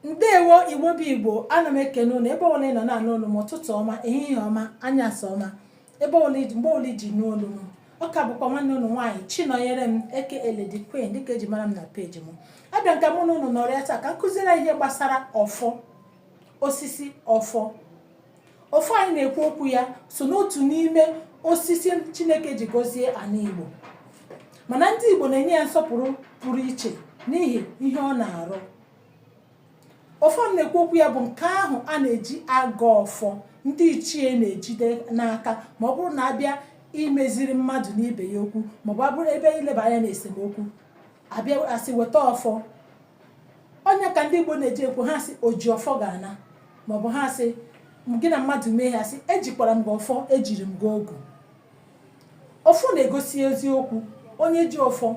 ndewo igbo bụ igbo ana m ekene ụnụ ebe ọbụla ị nọ na-anụ olu m ụtụtụ ọma ehihie ọma anyasị ọma ebe ọbụla iji mgbe ọbụla iji nụ olu m ọ ka bụkwa nwanne ụnụ nwaanyị chinọnyere m aka lady queen dịka eji mara m na peji m abịa m ka mụ na ụnụ nọrịa taa ka m kụziere ihe gbasara ọfọ osisi ọfọ ọfọ anyị na-ekwu okwu ya so n'otu n'ime osisi chineke ji gọzie ana igbo mana ndị igbo na-enye ya nsọpụrụ pụrụ iche n'ihi ihe ọ na-arụ ọfọ m na-ekwu okwu ya bụ nke ahụ a na-eji agọ ọfọ ndị ichie na-ejide n'aka ma ọ bụrụ na abịa imeziri mmadụ na ibe ya okwu maọbụ abụrụ ebe ileba anya na esemokwu abịa asị weta ọfọ ọ ya ka ndị Igbo na-eji ekwu ha sị oji ọfọ ga-ana maọbụ ha sị gị na mmadụ mee ha sị ejikwara m gị ọfọ ejiri m gị ogu ọfọ na-egosi eziokwu onye ji ọfọ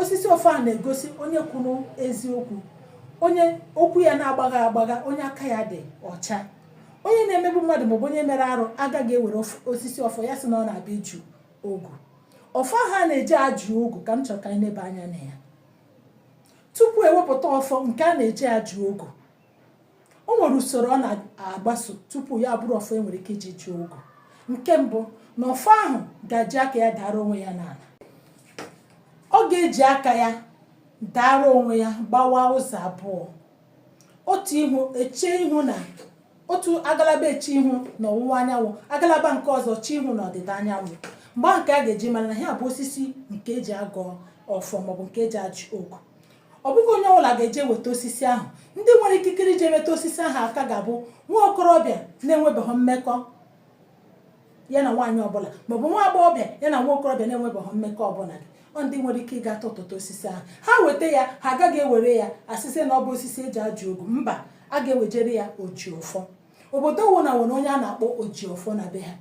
osisi ọfọ a na-egosi onye kwuru eziokwu onye okwu ya na-agbagha agbagha onye aka ya dị ọcha onye na-emegbu mmadụ maọbụ onye mere arụ agaghị ewere osisi ọfọ ya sị na ọ na-abịa ịjụ ogu ọfọ ha na-eji ajụ ogu ka m chọrọ ka anyị nebe anya na ya tupu ewepụta ọfọ nke a na-eji ajụ ogu o nwere usoro ọ na-agbaso tupu ya bụrụ ọfọ enwere ike iji jụọ ogu nke mbụ na ọfọ ahụ ga-eji aka ya dara onwe ya n'ana ọ ga-eji aka ya dara onwe ya gbawa ụzọ abụọ otu ihu echee ihu na otu agalaba eche ihu na ọwụwa anyanwụ agalaba nke ọzọ eche ihu na ọdịda anyanwụ mgbe nke a ga-eji mara na ya bụ osisi nke eji agọ ọfọ maọbụ nke eji ajụ ogu ọ bụghị onye ọbụla ga-eje weta osisi ahụ ndị nwere ikikere iji metụ osisi ahụ aka ga-abụ nwa okorobịa na-enwebeghị mmekọ ya na nwaanyị ọbụla maọbụ nwa agbọghọbịa ya na nwa okorobịa na-enwebeghị mmekọ ọbụla ọ ndị nwere ike ịga tụtụta osisi ahụ ha weta ya ha agaghị ewere ya sị na ọ bụ osisi eji ajụ ogu mba a ga-ewejere ya ojiọfọ obodo ọwụna nwere onye a na-akpọ ojiọfọ na be ha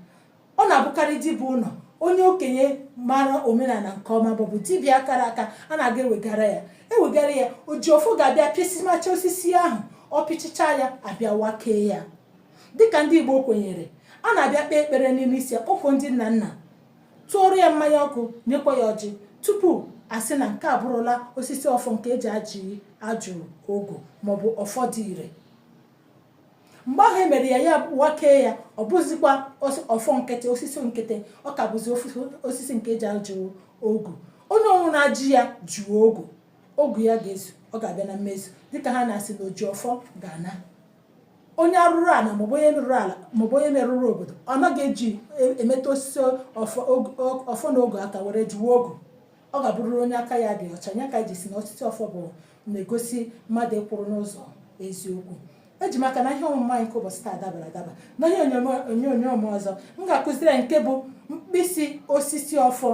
ọ na-abụkarị dibiụlọ onye okenye mara omenala nke ọma maọbụ dibịa kara aka a na-aga ewegara ya ewegara ya ojiọfọ ga-abịa pịsịmacha osisi ahụ ọ pịchacha ya abịa wakee ya dịka ndị Igbo kwenyere a na-abịa kpee ekpere n'ime isi ya kpọkuo ndị nna nna tụọrọ ya mmanya ọkụ nyekwa ya ọjị tupu asị na nke a abụrụla osisi ọfọ nke eji ajụ ogu maọbụ ọfọ dị ire mgbe ahụ emere ya ya wakee ya ọ bụzikwa ọfọ nkịtị osisi nkịtị ọ ka bụzi osisi nke eji ajụ ogu onye ọwụna ji ya jụọ ogu ogu ya ga-ezu ọ ga-abịa na mmezu dịka ha na-asị na oji ọfọ ga-ana onye arụrụ ala maọbụ onye merụrụ ala maọbụ onye merụrụ obodo ọ naghị eji e, emeta osisi ọfọ na ogu aka were jụwa ogu ọ ga-abụrụrụ onye aka ya dị ọcha nya ka e ji si na osisi ọfọ bụ na-egosi mmadụ ịkwụrụ n'ụzọ eziokwu eji m aka na ihe ọmụmụ anyị nke ụbọchị taa dabara adaba na ihe onyonyo m ọzọ m ga-akụziri nke bụ mkpịsị osisi ọfọ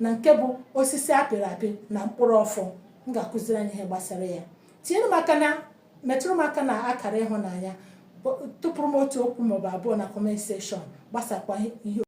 na nke bụ osisi apịrị apị na mkpụrụ ọfọ m ga-akụziri anyị ihe gbasara ya tinyere m aka na metụrụ m aka na akara ịhụnanya tụpụrụ m otu okwu maọbụ abụọ na comment section gbasakwa ihe